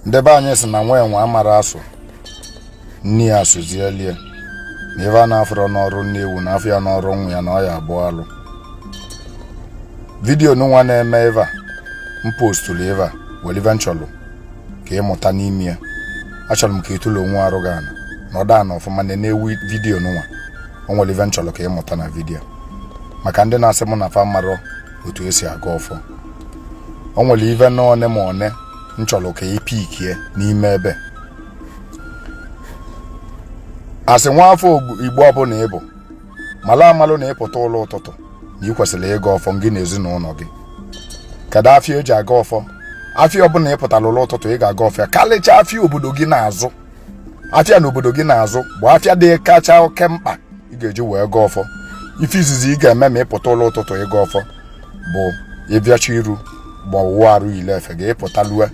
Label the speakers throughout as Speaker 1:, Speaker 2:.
Speaker 1: nde be anyị sị na nwa enwe amara asụ nni ya asụzielie na ife a na-afọrọ n'ọrụ nne ewu na afụ ya n'arụ nwa ya na ọ ya-abụ alụ vidiyo nwa na-eme eva m postụrụ eva nwelu ive m chọlụ ka ị mụta n'ime ya achọrọ m ka ị tụle onwe arụ gị ana nọdụ ana ọfụma nenee vidiyo nwa o nwere ife m chọrọ ka ị mụta na vidiyo maka ndị na-asị mụ na fa marọ otu e si agọ ọfọ o nwere ive na one ma one m chọrọ ka ị pikie n'ime ebe a sị nwa afọ igbo ọbụla ị bụ malụ amalụ na ị pụta ụla ụtụtụ na ị kwesịrị ịgọ ọfọ gị na ezinụlọ gị kedu afịa e ji agọ ọfọ afịa ọbụla ị pụtara ụla ụtụtụ ị ga-agọ ọfọ kalịchaa afịa obodo gị na-azụ afịa na obodo gị na-azụ bụ afịa dị kacha oke mkpa ị ga-eji wee gọọ ọfọ ife izizi ị ga-eme ma ị pụta ụla ụtụtụ ịgọ ọfọ bụ ịfịcha iru maọbụ wụa arụ yili efe gị ị pụta lue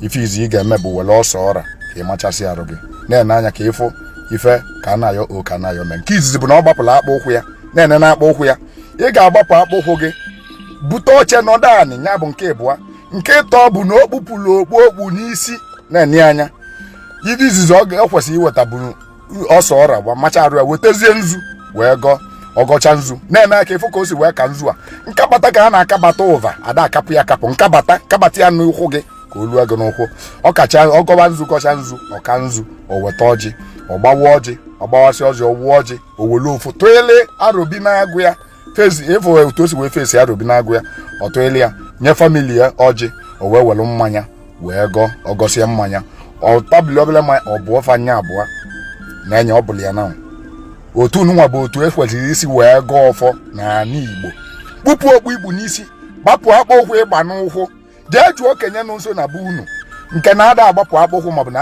Speaker 1: ife izizi ị ga-eme bụ were ose ọra ka ị machasị arụ gị na-ene anya ka ị fụ ife Kanayo O Kanayo mee nke izizi bụ na ọ gbapụlụ akpụ ụkwụ ya na-ene na akpụ ụkwụ ya ị ga-agbapụ akpụ ụkwụ gị bute oche nọdụ anị ya bụ nke ịbụa nke ịtọ bụ na o kpupụrụ okpu o kpu n'isi na-ene anya ife izizi o kwesịrị iweta bụ ose ọra gba macha arụ ya wetazie nzu wee gọọ ọ gọcha nzu na-ene ka ị fụ ka o si wee ka nzu a nkabata ka a na-akabata ụva a da akapụ ya akapụ nkabata kabata ya n'ụkwụ gị ka o lue gị n'ụkwụ ọ kacha ọ gọba nzu kacha nzu ọ ka nzu o weta ọjị ọ gbawa ọjị ọ gbawasịa ọjị ọ wụwa ọjị o welu ofu tụọlụ arobinagụ ya fezie ị fụ otu o si wee fesie arobinagụ ya ọ tụọlụ ya nye famili ya ọjị o wee were mmanya wee gọọ ọ gọsịa mmanya ọ tabili obere mmanya ọ bụọ ọfọ ya abụọ na-ene ọ bụlụ ya na otu nwa bụ otu e kwesịrị isi wee gọọ ọfọ n'anị igbo kpụpụ okpu i kpu n'isi gbapụ akpụ ụkwụ ị gba n'ụkwụ jee jụọ okenye nọ nso na be unu nke na-ada agbapụ akpụ ụkwụ maọbụ na